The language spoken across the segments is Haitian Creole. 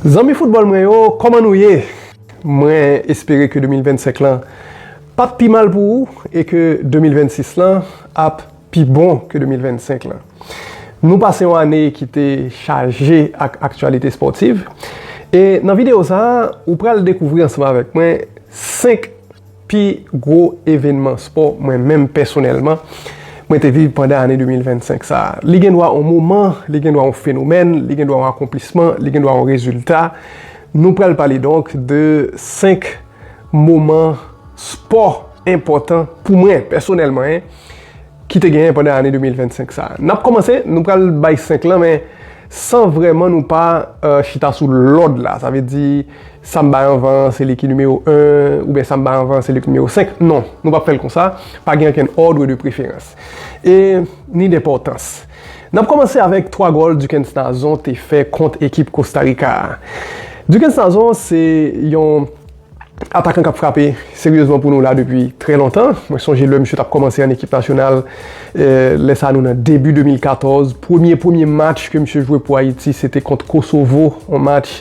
Zanmi foutbòl mwen yo kòman nou ye? Mwen espere ke 2025 lan pap pi mal pou ou e ke 2026 lan ap pi bon ke 2025 lan. Nou pase yon ane ki te chaje ak aktyalite spòtiv e nan videyo sa ou pral dekouvri ansanm avèk mwen 5 Pi gwo evènman spò mwen menm pèsonèlman mwen te viv pandan ane 2025 sa a. Li gen dwa yon moman, li gen dwa yon fenomèn, li gen dwa yon akonplisman, li gen dwa yon rezilta. Nou pral pale donk de 5 moman spò enpòtan pou mwen pèsonèlman en ki te genyen pandan ane 2025 sa a. N ap kòmanse, nou pral bay 5 lan men san vrèman nou pa chita sou lòd la. Sa vle di. Samba anvan an se li ki nimewo 1, oubyen samba anvan an se li ki nimewo 5. Non, nou pap fè l konsa. Pa gen okenn òdre de preferans. E, ni denpòtans. N ap kòmanse avèk 3 gòl Duckens Nazon te fè kont ekip Kostarika a. Duckens Nazon se yon atakan k ap frape seryezman pou nou la depi trè lontan. Mwen sonje lè misye t ap kòmanse an ekip nasyonal, lè sa nou nan debi 2014, premye premye match ke misye jwe pou Ayiti se te kont Kosovo, yon match.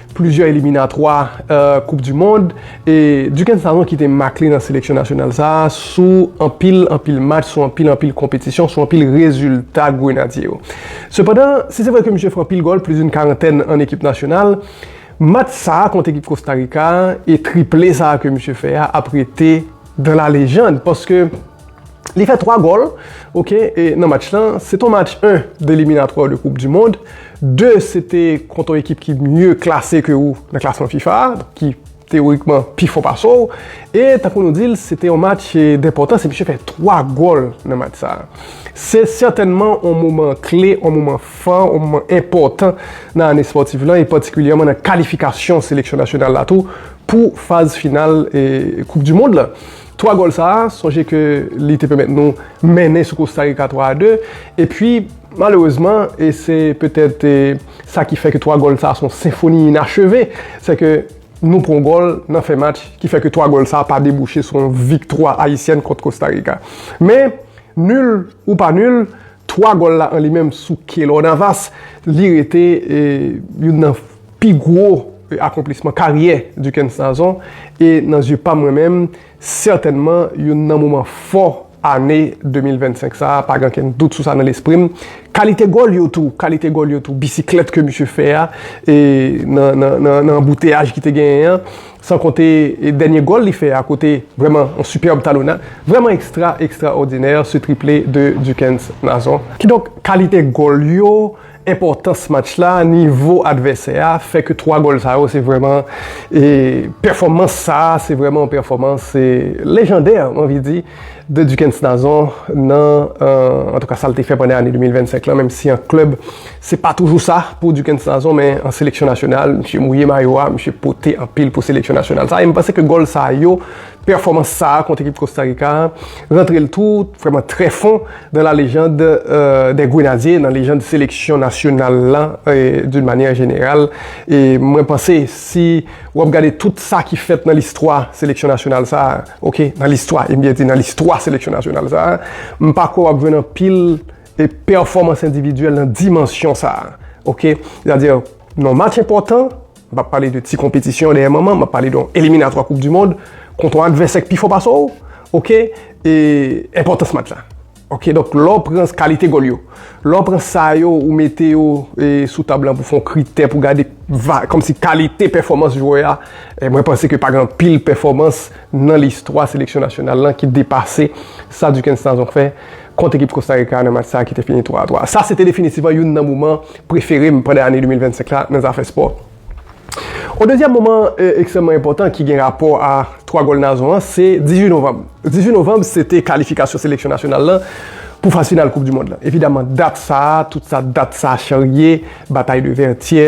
plizyè eliminatwa koup di mond e Duckens Sanon kite mak li nan seleksyon nasyonal sa a sou anpil anpil match, sou anpil anpil konpetisyon, sou anpil rezilta grenadye yo. Sepandan, si se vre ke misye fè anpil gòl, plizoun karantèn an ekip nasyonal, match sa a kont ekip Kostarika a e triple sa a ke misye fè a ap rete dans la légende paske li fè 3 gòl ok e nan match lan se ton match 1 de eliminatwa de koup di mond 2 se te kont yon ekip ki mye klase ke ou nan klasman fifa ki teorikman pi fò pase ou e tankou nou di l se te yon match denpòtans e misye fè 3 gòl nan match sa se sètènman yon moman kle yon moman fò yon moman enpòtan nan ane spòtif lan e patikilyèman nan kalifikasyon seleksyon nasyonal la tou Pou faz final koup du mond la. 3 gòl sa a, sonje ke li te pèmèt nou mennen sou Kosta Rika 3 a 2, epi malerezman, e se petèt sa ki fè ke 3 gòl sa a se yon senfoni inacheve, se ke nou pran yon gòl nan fen match ki fè ke 3 gòl sa a pa debouche sou yon viktwa ayisyèn kont Kosta Rika. Men, nul ou pa nul, 3 gòl la an li menm sou Keylor Navas, li rete youn nan pi gwo akonplisman karyè Duckens Nazon e nan zye pa mwen menm, sètènman youn nan moman fò ane 2025 sa a, pa gen okenn dout sou sa nan lespri m. Kalite gòl yo tou, kalite gòl yo tou, bisiklèt ke misye fè a nan anbouteyaj ki te genyen an, San konte dènye gòl li fè a kote vrèman yon sipèb talonnad vrèman ekstra ekstra òdinè se triple de Duckens Nazon. Kidonk kalite gòl yo, enpòtans match la, nivo advèsè a fè ke 3 gòl sa yo se vrèman e pèfòmans sa a se vrèman yon pèfòmans e lejandè mwen anvi di de Duckens Nazon nan antouka sa l te fè pandan ane 2025 lan menm si an klèb Se pa toujou sa pou Duckens Nazon men an seleksyon nasyonal misye mouye mayo a, misye pote anpil pou seleksyon nasyonal sa a e m panse ke gòl sa yo, pèfòmans sa a kont ekip Kosta Rika a rantre l tou vrèman trè fon nan la lejand dè Grenadye, nan lejand seleksyon nasyonal lan doun manyè jeneral e mwen panse si w ap gade tout sa ki fèt nan listwa seleksyon nasyonal sa a, ok, nan listwa, e m byen di nan listwa seleksyon nasyonal sa a, m pa kwè w ap jwenn anpil. e pèfòmans endividyèl nan dimansyon sa a. Ok? Sètadi, nan match enpòtan, m pa pale de ti konpetisyon dèyè manman, m ap pale de yon eliminatwa koup di mond, kont yon advèsè ki pi fò pase w, ok? E enpòtans match la. Ok? Donk, lè w pran kalite gòl yo, lè w pran sa yo ou mete yo sou tab la pou fè yon kritè pou gade va, kòmsi kalite pèfòmans jwè a, mwen panse ke pa gen anpil pèfòmans nan listwa seleksyon nasyonal lan ki depase sa Duckens Nazon fè. kont ekip Kosta Rika nan match sa ki te fini 3 a 3 a. Sa se te definitivman youn nan moman prefere m pandan ane 2025 la nan zafè spò. On dezyèm moman ekstrèmman enpòtan ki gen rapò a 3 gòl Nazon an se 18 novanm. 18 novanm se te kalifikasyon seleksyon nasyonal lan pou faz final koup di mond lan. Evidaman dat sa a, tout sa dat sa a charye, batay de Vètyè,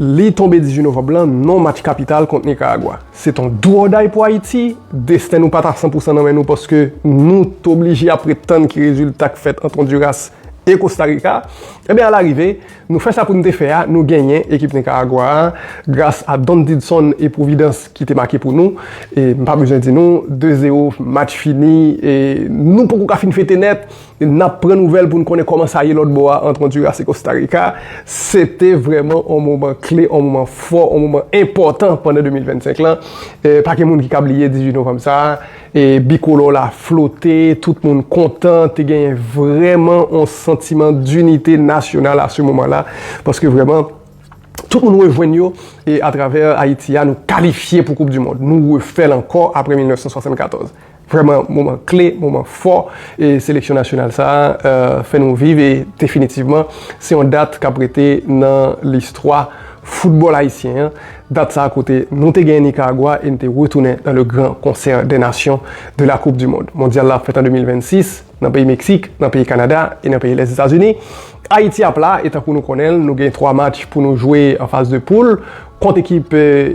Li tonbe 18 novanb lan, non match kapital kont Nikaragwa. Se t on do or die pou Ayiti, desten nou pa t a san pou san nan men nou paske nou t oblije ap ret tann ki rezilta k fèt ant Ondiras e Kosta Rika. Enben alarive, nou fè sa pou n te fè a, nou genyen ekip Nikaragwa a gras a Don Didson e Pwovidans ki te make pou nou. E m pa bezwen di nou, 2 zero, match fini e nou poko ka fin fete nèt. Nap pran nouvèl pou n konnen kòman sa ye lòt bò a ant Honduras e Costa Rica. Se te vrèman yon moman kle, yon moman fò, yon moman enpòtan pandan 2025 lan. Pa gen moun ki ka bliye 18 novanm sa a. Bikolò la flote, tout moun kontan, te genyen vrèman yon santiman dinite nasyonal a se moman la. Paske vrèman, tout moun rejwenn yo e atravè Ayiti a nou kalifye pou koup di mond. Nou refè l ankò apre 1974. Vrèman moman kle, moman fò e seleksyon nasyonal sa a fè nou viv e definitivman se yon dat k ap rete nan listwa foutbòl ayisyen an, dat sa a kote nou te genyen Nikaragwa e n te retounen nan le gran konsè dè nasyon de la koup di mond. Mondyal la ap fèt an 2026. nan peyi Meksik, nan peyi Kanada e nan peyi lès Etazini. Ayiti ap la e tankou nou konnen l nou gen 3 match pou nou jwe an faz de poul kont ekip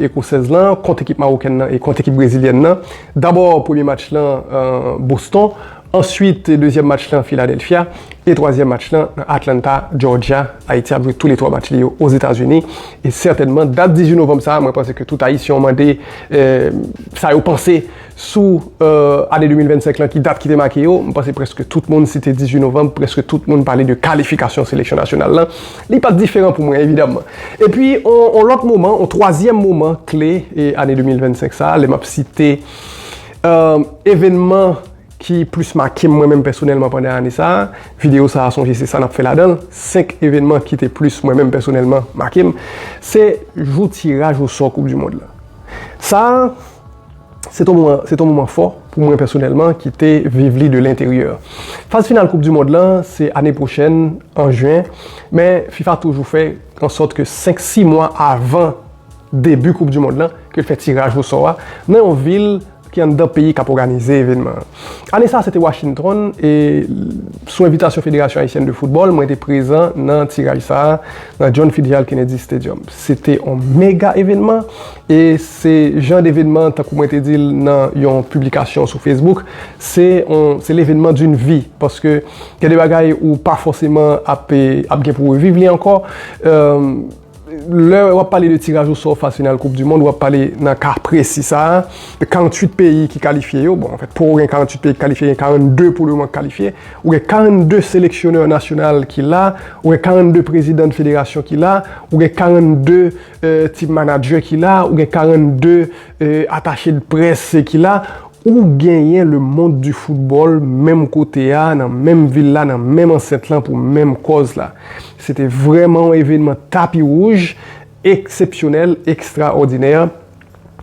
ekosèz lan, kont ekip mawokèn lan e kont ekip brezilyèn lan. Dabò premye match lan Boston, answit dezyèm match lan Filadèlfya e twazyèm match lan nan Atlanta, Jòjya. Ayiti ap jwe tou le 3 match li yo Ozetazini e sètènman dat 18 novanm sa a mwen panse ke tout Ayisyen w mande sa yo panse. Sou ane 2025 lan ki dat ki te make yo, m panse prèske tout moun si te 18 novanm, prèske tout moun pale de kalifikasyon seleksyon nasyonal lan. Li pa t diferan pou mwen evidamman. Epi on lòt moman, on twazyèm moman kle ane 2025 sa a, lè m ap site evènman ki plis make m mwen menm pèsonèlman pandan ane sa a, videyo sa a sonje se sa n ap fè ladan l, 5 evènman ki te plis mwen menm pèsonèlman make m, se jou tiraj osò koupdimond lan. Sa a. Se t on moman fò pou mwen pèsonèlman ki te viv li de lenteryè. Faz final koup du mond lan se ane pwochèn an jen men fifa toujou fè an sòt ke 5 6 mwa avan debu koup du mond lan ke l fè tiraj o sò a nan yon vil ki anndan peyi kap òganize evenman an. Ane sa se te Washington e sou envitasyon Federasyon Ayisyèn de Foutbòl mwen te prezan nan tiraj sa nan John Fitzgerald Kennedy Stadium. Se te on mega evenman E se jan devenman, tankou mwen te di l nan yon piblikasyon sou Facebook, se yon, se levenman d'une vie, paske gen de bagay ou pa fòseman ap ap gen pou w reviv li ankò. Lè w ap pale de tiraj osò faz final koup dimond, w ap pale nan ka presi sa a, de 48 peyi ki kalifye yo, bon, anfèt, pou w gen 48 peyi ki kalifye, gen 42 pou le moman ki kalifye, ou gen 42 seleksyonè nasyonal ki la, ou gen 42 prezidan de federasyon ki la, ou gen 42. Team manager ki la, ou gen 42 atache de press ki la, ou genyen le monde du football menm kote a, nan menm vil la, nan menm ansent lan pou menm kòz la. Se te vrèman yon evenman tapi wouj, eksepsyonèl, ekstraòdinè.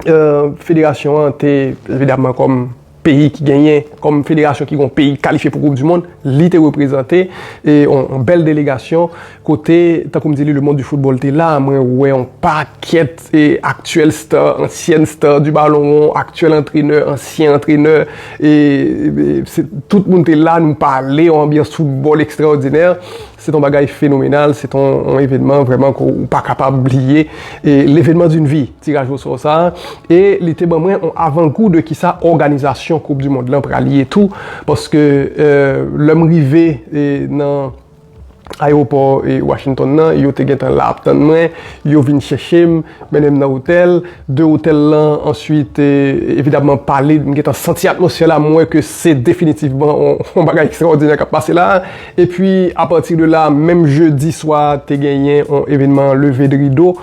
Federasyon an te evidamman kòm. peyi ki genyen kòm federasyon ki gon peyi kalifye pou koup di mond li te reprezante e yon bèl delegasyon kote tankoum di li le mond di foutbòl te la mwen wè yon pakèt e aktyèl sta ansyèn sta di balon won aktyèl antrenè ansyen antrenè e se tout moun te la nou pale yon anbyans foutbòl ekstraòdinè se ton bagay fenomenal se ton yon evènman vrèman kou ou pa kapab bliye e levènman di n vi. Tiraj osò sa a e li te ban mwen yon avangou de kisa òganizasyon koup di mond lan pral ye tou paske lè m rive nan ayewopò Washington nan yo te gentan la ap tann mwen yo vin chèche m mennen m nan otèl de otèl lan answit evidamman pale m gentan santi atmosfè la m wè ke se definitivman yon bagay ekstraòdinè k ap pase la epi apati de la menm jedi swa te genyen yon evènman leve de rido.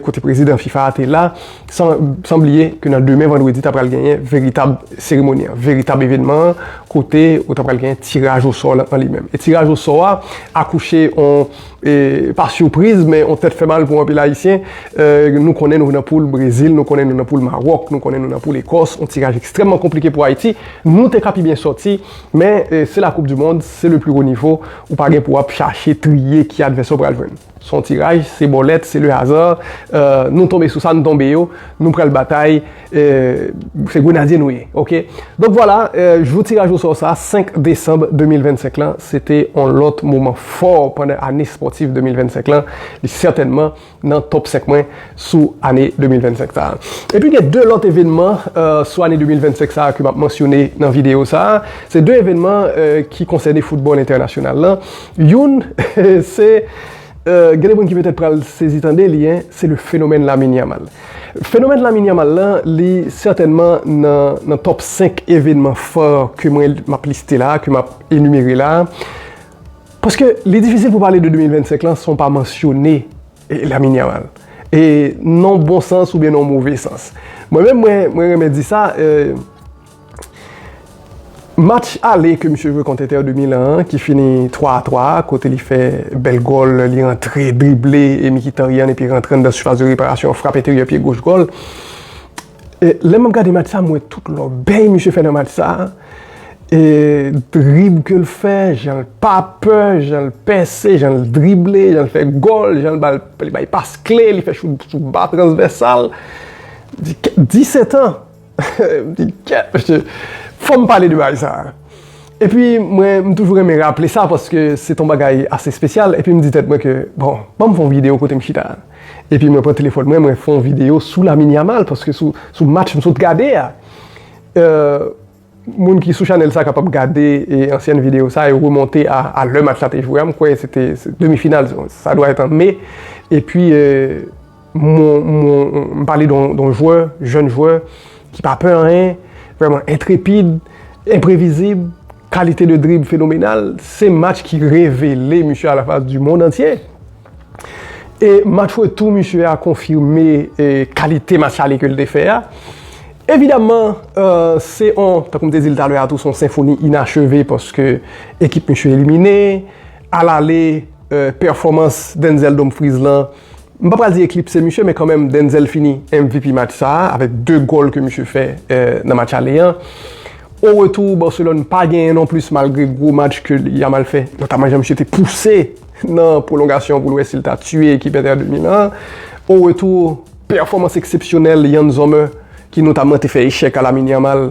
kote prezidan fifa a te la, san bliye ke nan demen vandredi ta pral genyen veritab seremoni an, veritab evenman an, kote ou ta pral genyen tiraj osò an li menm. E tiraj osò a akouche on, pa sipriz, men on tèt fè mal pou anpil ayisyen, nou konnen nou nan poul Brezil, nou konnen nou nan poul Maròk, nou konnen nou nan poul Ekòs, on tiraj ekstrèmman konplike pou Ayiti, nou te ka pi byen sòti, men se la koup di mond, se le pli wo nivo, ou pa gen pou ap chache triye ki advèsè ou pral jwenn. Son tiraj se bòlèt se le hasard nou tonbe sou sa nou tonbe yo nou pral batay se grenadye nou ye ok donk vwala jou tiraj osò sa 5 desanm 2025 lan se te on lòt moman fò pandan ane spòtif 2025 lan li sètènman nan top 5 mwen sou ane 2025 sa epi gen 2 lòt evènman sou ane 2025 sa ke map mansyone nan videyo sa se 2 evènman ki konsène foutbòl entènasyonal lan. Youn se, gen de moun ki petèt pral sezi tande li, se le fenomèn Lamine Yamal. Fenomèn Lamine Yamal la, li sètènman nan top 5 evenman fò ke mwen m ap liste la, ke m ap enimere la. Paske li difisil pou pale de 2025 lan san w pa mansyone Lamine Yamal. E nan w bon sans oubyen nan w move sans. Mwen menm mwen renmen di sa. Match ale ke misye jwe kont Inter de Milan an ki fini 3 a 3 a kote li fè bèl gòl, li rantre, drible e Mkhitaryan epi rantre anndan sifas de reparasyon, frap enteryè pye goch gòl. Lè map gade match sa, m wè tout lòbèy misye fè nan match sa. Drib ke l fè, jan l pa pè, jan l pèse, jan l drible, jan l fè gòl, jan l bay pas kle, li fè chout sou ba transvèsal. 17 an! Fò m pale de bagay sa a. Epi mwen m toujou renmen raple sa paske se t on bagay ase espesyal epi m di tèt mwen ke bon ban m fè yon videyo kote m chita epi mwen pran telefòn mwen mwen fè yon videyo sou Lamine Yamal paske sou match m sot gade a. Moun ki sou chanèl sa kapab gade ansyen videyo sa yo remonte a lè match la te jwe a m kwè se te demi final sa dwa èt an me epi M pale don jwè, jèn jwè, ki pa pè anyen, vreman entrepid, enprevizib, kalite de drib fenomenal, se match ki revele misye a la fas di mond antye. E match retou misye a konfime kalite match ale ke l te fè a. Evidamman, se yon, tankou m te di l talè a tou, se yon senfoni inacheve paske ekip misye elimine. A l ale, pèfòmans Denzel Dumfries lan, M pa pral di eklipse misye men kanmenm Denzel fini MVP match sa a avèk 2 gòl ke misye fè nan match ale an. O retou Barcelone pa genyen non plis malgre gwo match ke Yamal fè notaman jan misye te pouse nan pwolongasyon pou l wè si l ta tiye ekip Inter de Milan an. O retou pèfòmans eksepsyonèl Yann Sommer ki notamman te fè echèk a Lamine Yamal.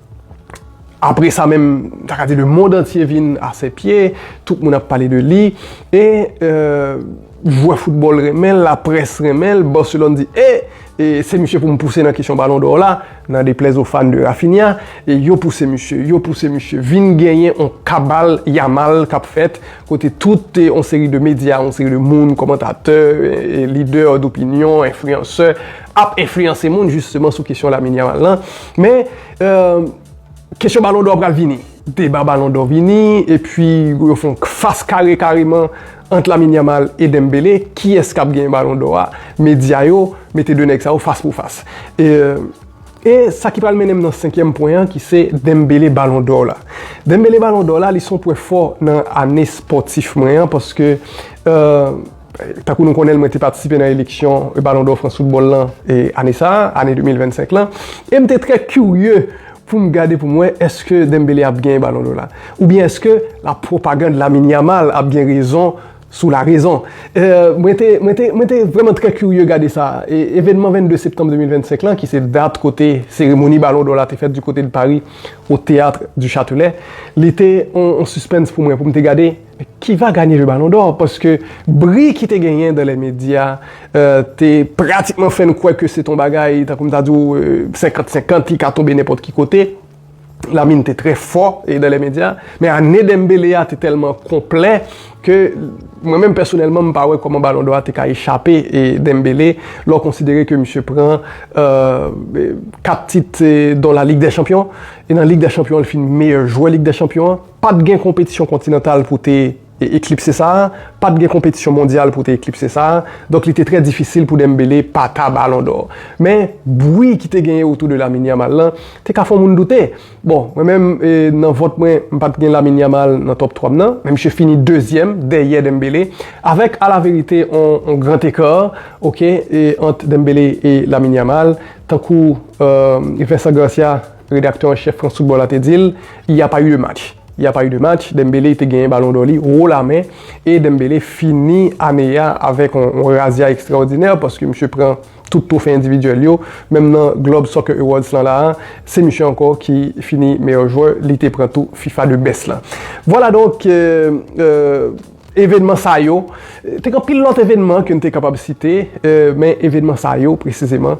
Apre sa menm, m ta ka di le mond antye vin a sè pye, tout moun ap pale de li, e jwè foutbòl renmen l, laprès renmen l, Barcelone di e, se misye pou m pouse nan kesyon balon dò la, nan deplèz o fan de Raphinha, e yo pouse misye, yo pouse misye, vin genyen on kabal Yamal k ap fèt, kote tout on seri de medya, on seri de moun, kòmantatè, lidè dopinyon, enfliyansè, ap enfliyanse moun jisteman sou kesyon Lamine Yamal lan, men kesyon balon dò pral vini, deba balon dò vini, epi yo fon fas kare kareman ant Lamine Yamal e Dembele, kiyès kap genyen balon dò a, medya yo mete 2 nèg sa yo fas pou fas. E sa ki pral mennen m nan senkyèm pwen an ki se Dembele balon dò la. Dembele balon dò la li son pwen fò nan ane spòtif mwen an, paske. Tankou nou konnen l, mwen te patisipe nan eleksyon Balon dò Frans Foutbòl lan ane sa a, ane 2025 lan, e m te trè kirye pou m gade pou m wè èske Dembele ap genyen Balon dò la oubyen èske la pwopagand Lamine Yamal ap gen rezon sou larezon. Mwen te mwen te vrèman trè kirye gade sa. Evènman 22 septanm 2025 lan ki se dat kote seremoni Balon dò la te fèt di kote de Paris au Théâtre du Châtelet li te on sispens pou mwen pou m te gade Men ki va ganye le Ballon d'Or paske bri ki te genyen dan lè medya te pratikman fè nou kwè ke se te yon bagay tankou m ta di w 50 50 li ka tonbe nenpòt ki kote. Lamine te trè fò dan lè medya men ane Dembele a te tèlman konplè ke mwen menm pèsonèlman m pa wè kòman Ballon d'Or a te ka echape Dembele lè w konsidere ke misye pran 4 tit don la Ligue des Champions e nan Ligue des Champions li fin meyè jwè Ligue des Champions an. Pa t gen konpetisyon kontinantal pou te eklipse sa, pa t gen konpetisyon mondyal pou te eklipse sa, donk li te trè difisil pou Dembele pa ta Balon dò. Men, bwi ki te genyen otou de Lamine Yamal lan, te ka fè yon moun doute. Bon, mwen menm, nan vòt mwen, m pa t gen Lamine Yamal nan tòp twa m nan, men misye fini dezyèm, dèyè Dembele, avèk alaverite yon gran eka, ok, ant Dembele e Lamine Yamal, tankou Vincent Garcia Redaktè an chèf France Football la te di l, Il y a pas eu de match. Il y a pas eu de match, Dembélé te genyen balon dò li wo lamen e Dembélé fini ane a avèk yon razya ekstraòdinè paske misye pran tout twofe endividyèl yo, menm nan Globe Soccer Awards lan la a, se misye ankò ki fini meyè jwè, li te pran tou fifa de best lan. Vwala donk. Evenman sa yo, te gen anpil lòt evenman ke n te kapab site, men evenman sa yo presizeman,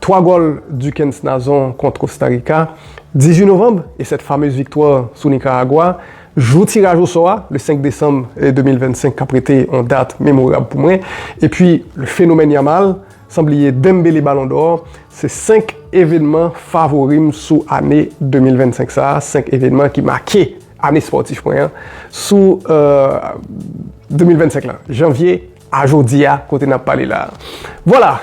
3 gòl Duckens Nazon kont Kosta Rika, 18 novanm, e sèt famez viktwa sou Nikaragwa, jou tiraj osò a, le 5 desanm 2025 k ap rete yon dat memorab pou mwen, epi le fenomèn Yamal, san bliye Dembele Balon dò, se 5 evenman favori m sou ane 2025 sa a, 5 evenman ki make. Ane spòtif mwen an sou 2025 lan, janvye a jodi a kote n ap pale la a. Vwala!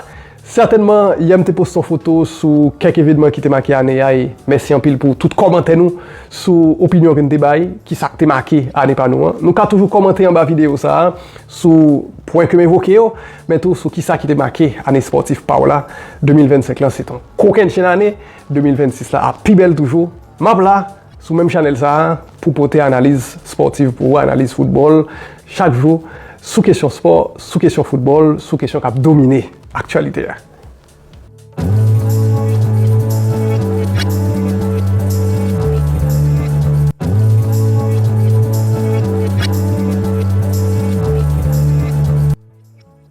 Sètènman, yè m te poste yon foto sou kèk evenman ki te make ane a e mèsi anpil pou tout kòmantè nou sou opinyon ke n te bay, ki sa k te make ane pa nou an. Nou ka toujou kòmante anba videyo sa a sou pwen ke m evoke yo, men tou sou ki sa ki te make ane spòtif pa w la. 2025 lan se t yon kokennchenn ane, 2026 la ap pi bèl toujou. M ap la! Sou menm chanèl sa a, pou pote analiz spòtiv pou ou, analiz foutbòl chak jou, sou kesyon spò, sou kesyon foutbòl, sou kesyon k ap domine aktyalite a.